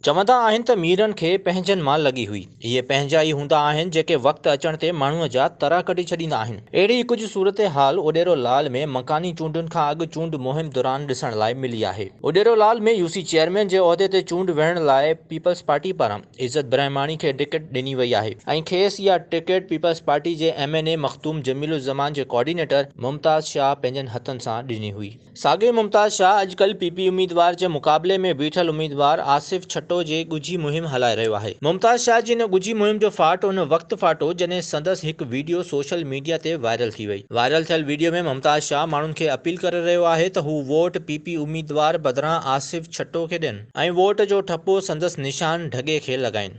چوندا آهن ته ميرن کي پنهنجن مان لڳي هئي. اهي پنهنجا ئي هوندا آهن جيڪي وقت اچڻ تي ماڻهوء جا ترا ڪڍي ڇڏيندا آهن. اهڙي ئي ڪجهه صورتحال اڏيرو لال ۾ مڪاني چونڊن کان اڳ چونڊ مهم دوران ڏسڻ لاء ملي آهي. Udero Lal ۾ U C chairman جي عهدي تي چونڊ وڙهڻ لاء پيپلز پارٽي پاران عزت برهماڻي کي ٽڪيٽ ڏني وئي آهي ۽ کيس اها ٽڪيٽ پيپلز پارٽي جي M N A Makhdoom Jameel Uzzaman جي ڪوآرڊينيٽر ممتاز شاهه پنهنجن هٿن سان ڏني هئي. ساڳيو ممتاز شاهه اڄڪلهه پي پي اميدوار جي مقابلي ۾ بيٺل اميدوار آصف ڇٽو جي ڳجهي مهم هلائي رهيو آهي. ممتاز شاهه جي ان ڳجهي مهم جو ڦاٽ ان وقت ڦاٽو جڏهن سندس هڪ ويڊيو سوشل ميڊيا تي وائرل ٿي وئي. وائرل ٿيل ويڊيو ۾ ممتاز شاهه ماڻهن کي اپيل ڪري رهيو آهي ته هو ووٽ پي پي اميدوار بدران آصف ڇٽو کي ڏين ۽ ووٽ جو ٺپو سندس نشان ڍڳي کي لڳائين.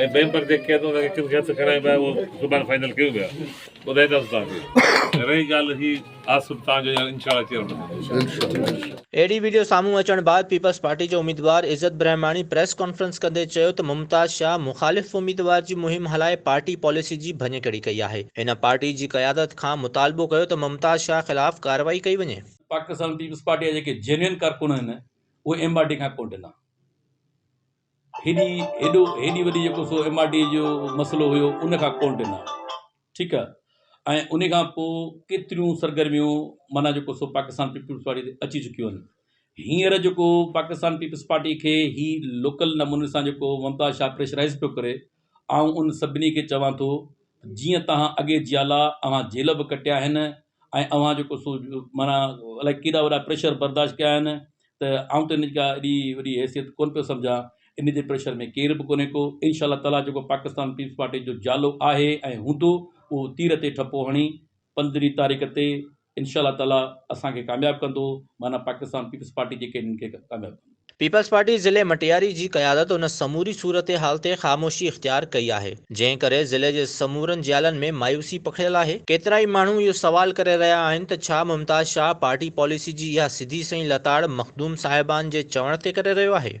۽ بئين پر جيڪي ڪيس انهن کي ڪن کي هٿ کڻائبا آهي اهو سڀاڻي فائنل ڪيو ويا ٻڌائينداسون توهان کي رهي ڳالهه هي آصف توهان جو ان شاء الله چيئرمين ٿيندو. اهڙي وڊيو سامهون اچڻ بعد پيپلز پارٽي جي اميدوار عزت برهماڻي پريس ڪانفرنس ڪندي چيو ته ممتاز شاهه مخالف اميدوار جي مهم هلائي پارٽي پاليسي جي ڀڃڪڙي ڪئي آهي، هن پارٽي جي قيادت کان مطالبو ڪيو ته ممتاز شاهه خلاف ڪارروائي ڪئي وڃي. پاڪستان پيپلز پارٽي جا جيڪي جينوئن ڪارڪن آهن اهي ايم آر ڊي کان ڪونه ڊنا. هيڏي هيڏو هيڏي وڏي جيڪو سو ايم آر ڊي جو مسئلو هيو ان کان ڪونه ڏنا ٺيڪ آهي ۽ ان کان پوء ڪيتريون سرگرميون معنيٰ جيڪو سو پاڪستان پيپلز پارٽي تي اچي چڪيون آهن هينئر جيڪو پاڪستان پيپلز پارٽي کي هي لوڪل نموني سان جيڪو ممتاز شاهه پريشرائز پيو ڪري آئون انهن سڀني کي چوان ٿو ته جيئن توهان اڳي جيالا اوهان جيل به ڪٽيا آهن ۽ اوهان جيڪو سو معنيٰ الائي ڪيڏا وڏا پريشر برداشت ڪيا آهن ته آئون ته ان جي ڪا ايڏي وڏي حيثيت ڪونه پيو سمجهان ان جي پريشر ۾ ڪير به ڪونهي ڪو انشاء الله تعاليٰ جيڪو پاڪستان پيپلز پارٽي جو جيالو آهي ۽ هوندو اهو تير تي ٺپو هڻي پندرهين تاريخ تي انشاء الله تعالي اسان کي ڪامياب ڪندو معنيٰ پاڪستان پيپلز پارٽي جي ڪينڊيڊيٽ کي ڪامياب ڪندو. پيپلز پارٽي ضلعي مٽياري جي قيادت ان سموري صورتحال تي خاموشي اختيار ڪئي آهي جنهن ڪري ضلعي جي سمورن جيالن ۾ مايوسي پکڙيل آهي، ڪيترائي ماڻهو اهو سوال ڪري رهيا آهن ته ڇا ممتاز شاهه پارٽي پاليسي جي اها سڌي سئي لتاڙ مخدوم صاحبان جي چوڻ تي ڪري رهيو آهي؟